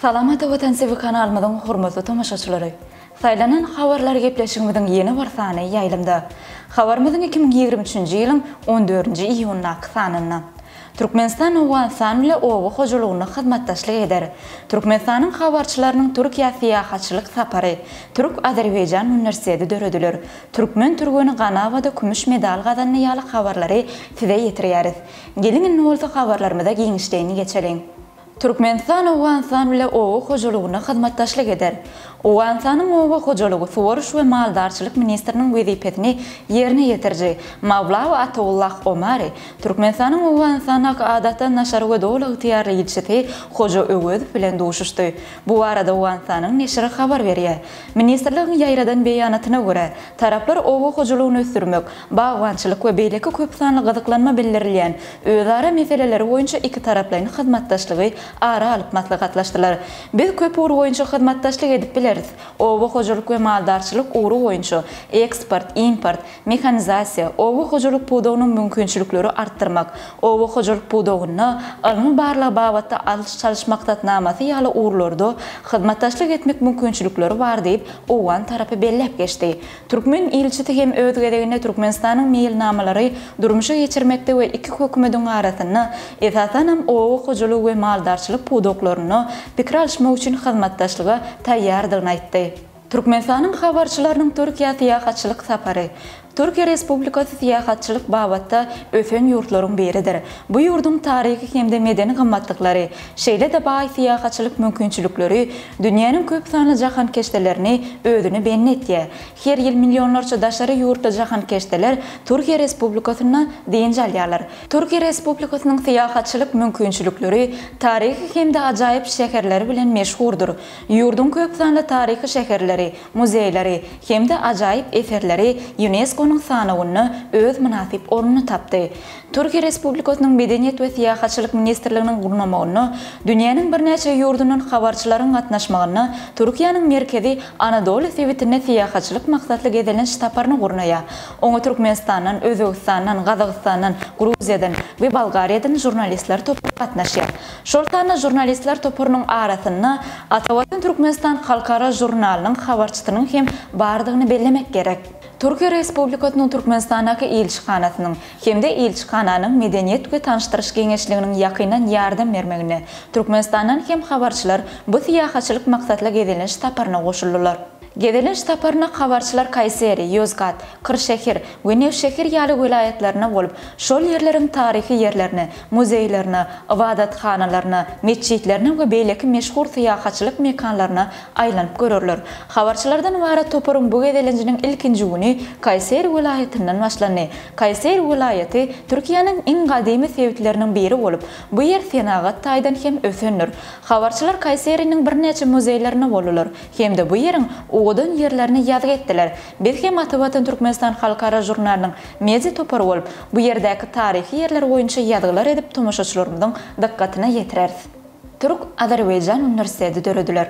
Salam Ata Watan TV kanalymyzyň hormatly tomaşaçylary! Saýlanan habarlar gepleşigimiziň ýene bir sany ýaýlymda. Habarymyzyň iki müň ýigrimi üçünji ýylyň on dördünji iýundaky sanynda. Türkmenistan Owganystan bile oba hojalygynda hyzmatdaşlyk eder. Türkmenistanyň habarçylarynyň Türkiýä syýahatçylyk sapary, Türk-Azerbaýjan uniwersiteti dörediler. Türkmen türgeni Ganawada kümüş medal gazandy ýaly habarlary size ýetirýäris. Geliň indi bolsa habarlarymyza giňişleýin geçeliň. Türkmenistan Owganystan bile oba hojalygyna hyzmatdaşlyk eder. Owganystanyň oba hojalygy, suwaryş we maldarçylyk ministriniň wezipesini ýerine ýetiriji Mawlawi Atawullah Omari, Türkmenistanyň Owganystandaky Adatdan daşary we doly ygtyýarly ilçisi Hoja Öwezow bilen duşuşdy. Bu barada Owganystanyň neşiri habar berýär. Ministrligiň ýaýradan beýanatyna görä, taraplar oba hojalygyny ösdürmek, bagbançylyk we beýleki köpsanly gyzyklanma bildirilýän özara meseleleri boýunça ikitaraplaýyn hyzmatdaşlygy ara alyp maslahatlaşdylar. Biz köp ugur boýunça hyzmatdaşlyk edip bileris, oba hojalyk we maldarçylyk ugry boýunça, eksport, import, mehanizasiýa, oba hojalyk pudagynyň mümkinçilikleri artdyrmak, oba hojalyk pudagynda ylmy-barlag babatda alyş-çalyş maksatnamasy ýaly ugurlarda hyzmatdaşlyk etmek mümkinçilikleri bar diýip, owgan tarapy belläp geçdi. Türkmen ilçisi hem öz gezeginde Türkmenistanyň meýilnamalary durmuşa geçirmekde we iki hökümediň arasynda, esasanam oba hojalygy we maldarçylyk pudaklarynda pikir alyşmak üçin hyzmatdaşlyga taýýardygyny aýtdy. Türkmenistanyň habarçylarynyň Türkiýä syýahatçylyk sapary. Türkiýe Respublikasy syýahatçylyk babatda ösen ýurtlaryň biridir. Bu ýurduň taryhy hem-de medeni gymmatlyklary, şeýle-de baý syýahatçylyk mümkinçilikleri dünýäniň köp sanly jahankeşdelerini özüne bendi etýär. Her ýyl millionlarça daşary ýurtly jahankeşdeler Türkiýe Respublikasynda dynç alýarlar. Türkiýe Respublikasynyň syýahatçylyk mümkinçilikleri taryhy hem-de ajaýyp şäherleri bilen meşhurdyr. Ýurduň köp sanly taryhy şäherleri, muzeýleri hem-de ajaýyp eserleri Ýunesko-nyň sanawynda öz mynasyp ornuny tapdy. Türkiýe Respublikasynyň Medeniýet we syýahatçylyk ministrliginiň gurnamagynda dünýäniň birnäçe ýurdundan habarçylaryň gatnaşmagynda Türkiýäniň Merkezi Anadoly sebitine syýahatçylyk maksatly gezelenç saparyny gurnaýar. Oňa Türkmenistandan, Özbegistandan, Gazagystandan, Gruziýadan we Bolgariýadan žurnalistler topary gatnaşýar. Şol sanda žurnalistler toparynyň arasynda Atawatan Türkmenistan halkara žurnalynyň habarçysynyň hem bardygyny bellemek gerek. Türkiýe Respublikasynyň Türkmenistandaky ilçihanasynyň hem-de ilçihananyň Medeniýet we tanyşdyryş geňeşliginiň ýakyndan ýardam bermeginde Türkmenistandan hem habarçylar bu syýahatçylyk maksatly gezelenç saparyna goşuldylar. Gezelenç saparyna habarçylar Kaýseri, Ýozgat, Kyrşehir we Newşehir ýaly welaýatlaryna bolup, şol ýerleriň taryhy ýerlerine, muzeýlerine, ybadathanalaryna, metjitlerine we beýleki meşhur syýahatçylyk mekanlaryna aýlanyp görerler. Habarçylardan ybarat toparyň bu gezelenjiniň ilkinji güni Kaýseri welaýatyndan başlandy. Kaýseri welaýaty Türkiýäniň iň gadymy sebitleriniň biri bolup, bu ýer senagat taýdan hem ösendir. Habarçylar Kaýseriniň birnäçe muzeýlerinde boldular. Hem-de bu ýeriň owadan ýerlerini ýazgy etdiler. Biz hem Atavatan Türkmenistan halkara žurnalynyň media topary bolup, bu ýerdäki taryhy ýerler boýunça ýazgylar edip tomaşaçylarymyzyň dykgatyna ýetireris. Türk-azerbaýjan uniwersiteti dörediler.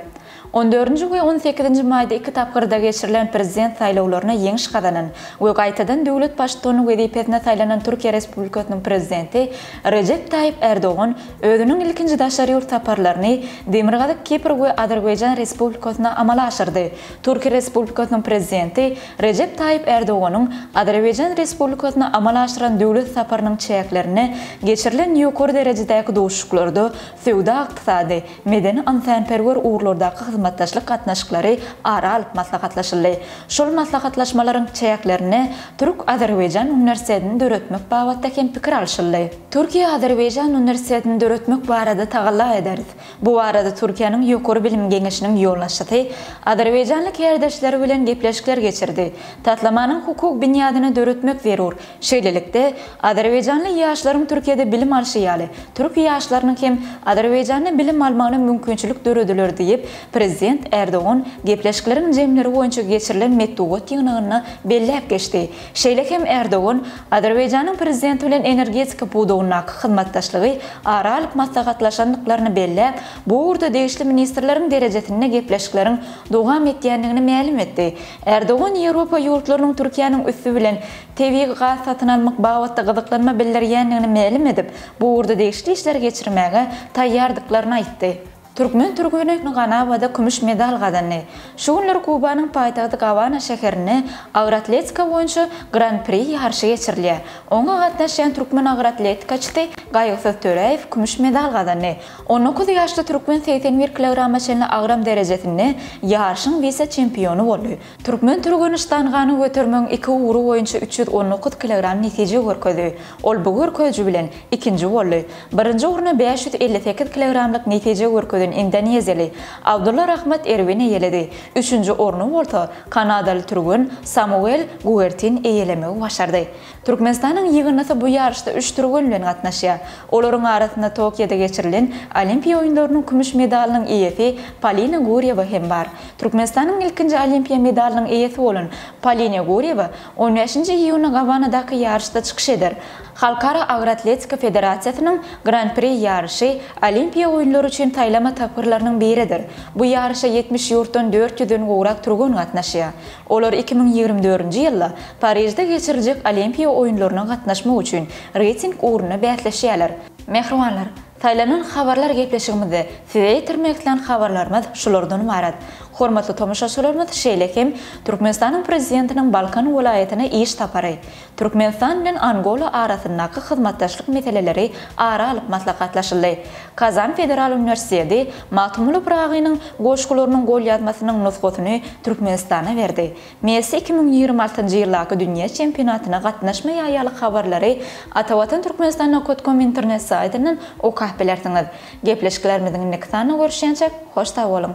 On dördünji we on sekizinji maýda iki tapgyrda geçirilen prezident saýlawlaryna ýeňiş gazanan we gaýtadan döwlet baştutany wezipesine saýlanan Türkiýe Respublikasynyň Prezidenti Rejep Taýyp Erdogan Özüniň ilkinji daşary ýurt saparlaryny Demirgazyk Kipr we Azerbaýjan Respublikasyna amala aşyrdy. Türkiýe Respublikasynyň Prezidenti Rejep Taýyp Ärdoganyň Azerbaýjan Respublikasyna amala aşyran döwlet saparynyň çäklerinde geçirilen ýokary derejedäki duşuşyklarda söwda-ykdysady, medeni-ynsanperwer ugurlardaky hyzmatdaşlyk gatnaşyklary ara alyp maslahatlaşyldy. Şol maslahatlaşmalaryň çäklerinde Türk-Azerbaýjan uniwersitetini döretmek babatda hem pikir alşyldy. Türkiýe-Azerbaýjan uniwersitetini döretmek barada tagalla ederis. Bu barada Türkiýäniň Ýokary bilim geňeşiniň ýolbaşçysy azerbaýjanly kärdeşleri bilen gepleşikler geçirdi. Taslamanyň hukuk binýadyny döretmek zerur. Şeýlelikde, azerbaýjanly ýaşlaryň Türkiýede bilim alşy ýaly, türk ýaşlarynyň hem Azerbaýjanda bilim almagyna mümkinçilik dörediler diýip, prezident Erdogan gepleşikleriň jemleri boýunça geçirilen metbugat ýygnagynda belläp geçdi. Şeýle hem Erdogan Azerbaýjanyň Prezidenti bilen energetika pudagyndaky hyzmatdaşlygy ara alyp maslahatlaşandyklaryny belläp, bu ugurda degişli ministrleriň derejesinde gepleşikleriň dowam etýändigini mälim etdi. Erdogan Ýewropa ýurtlarynyň Türkiýäniň üsti bilen tebigy gaz satyn almak babatda gyzyklanma bildirýändigini mälim edip, bu ugurda degişli işleri geçirmäge taýýardyklaryny aýtdy. Türkmen türgeni Ganabada kümüş medal gazandy. Şu günler Kubanyň paýtagty Gabana şäherinde agyr atletika boýunça Gran-pri ýaryşy geçirilýär. Oňa gatnaşýan türkmen agyr atletikaçysy Gaýgysyz Töräýew kümüş medal gazandy. On dokuz ýaşly türkmen segsen bir kilograma çenli agram derejesinde ýaryşyň wise-çempiony boldy. Türkmen Türgenistangany götermegiň iki ugry boýunça üç ýüz on dokuz kilogram netije görkezdi. Ol bu görkeziji bilen ikinji boldy. Birinji orny bäş ýüz elli sekiz kilogramlyk netije görkezen indoneziýaly Abdulla Rahmat Erwin eýeledi. Üçünji orny bolsa kanadaly türgen Samuel Guertin eýelemegi başardy. Türkmenistanyň ýygyndysy bu ýaryşda üç türgen bilen gatnaşýar. Olaryň arasynda Tokioda geçirilen Olimpiýa oýunlarynyň kümüş medalynyň eýesi Polina Gurýewa hem bar. Türkmenistanyň ilkinji Olimpiýa medalynyň eýesi bolan Polina Gurýewa on bäşinji iýunda Gawanadaky ýaryşda çykyş eder. Halkara agroatletika federasiýasynyň Gran-pri ýaryşy Olimpiýa oýunlary üçin saýlama tapgyrlarynyň biridir. Bu ýaryşa ýetmiş ýurtdan dört ýüzden gowrak türgen gatnaşýar. Olar iki müň ýigrimi dördünji ýylda Parižde geçiriljek Olimpiýa oýunlaryna gatnaşmak üçin reýting ugrunda bäsleşýärler. Mähribanlar, saýlanan habarlar gepleşigimizde size ýetirmek islän habarlarymyz şulardan ybarat. Hormatly tomaşaçylarymyz şeýle hem Türkmenistanyň Prezidentiniň Balkan welaýatyna iş sapary, Türkmenistan bilen Angola arasyndaky hyzmatdaşlyk meseleleri ara alyp maslahatlaşyldy. Kazan federal uniwersiteti Magtymguly Pyragynyň goşgularynyň golýazmasynyň nusgasyny Türkmenistana berdi. Messi iki müň ýigrimi altynjy ýyldaky dünýä çempionatyna gatnaşmaýar ýaly habarlary Atawatan Türkmenistan Nokot Kom internet saýtyndan okap bilersiňiz. Gepleşiklerimiziň indiki sanyna görüşýänçä hoş sag boluň!